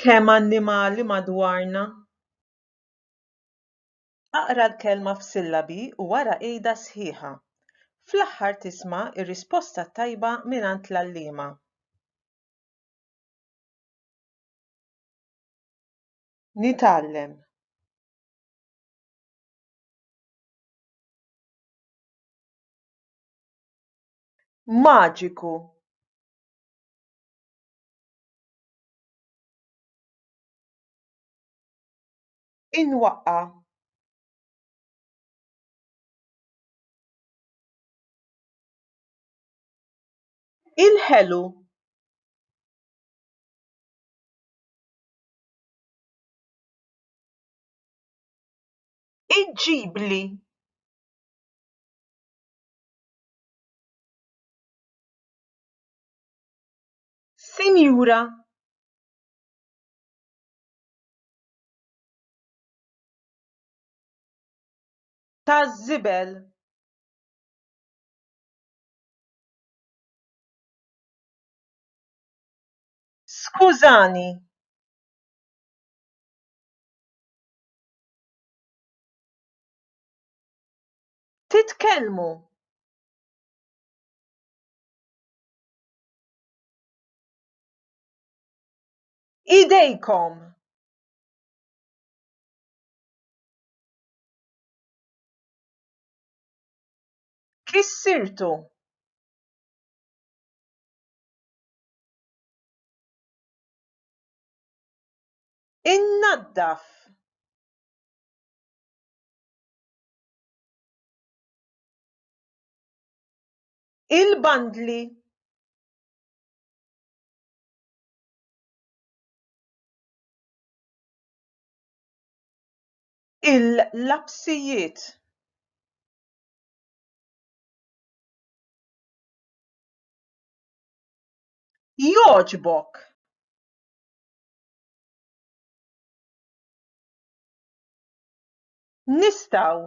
Kemm annimali madwarna! Aqra l-kelma f'sillabi u wara għidha sħiħa. Fl-aħħar tisma' r-risposta t-tajba mingħand l-għalliema. Nitgħallem. Maġiku. Inwaqqa. Il-ħelu. Iġġibli. Sinjura taż-żibel Skużani. Titkellmu. Idejkom! Kissirtu! Innaddaf! il-bandli il-lapsijiet jogħġbok nistgħu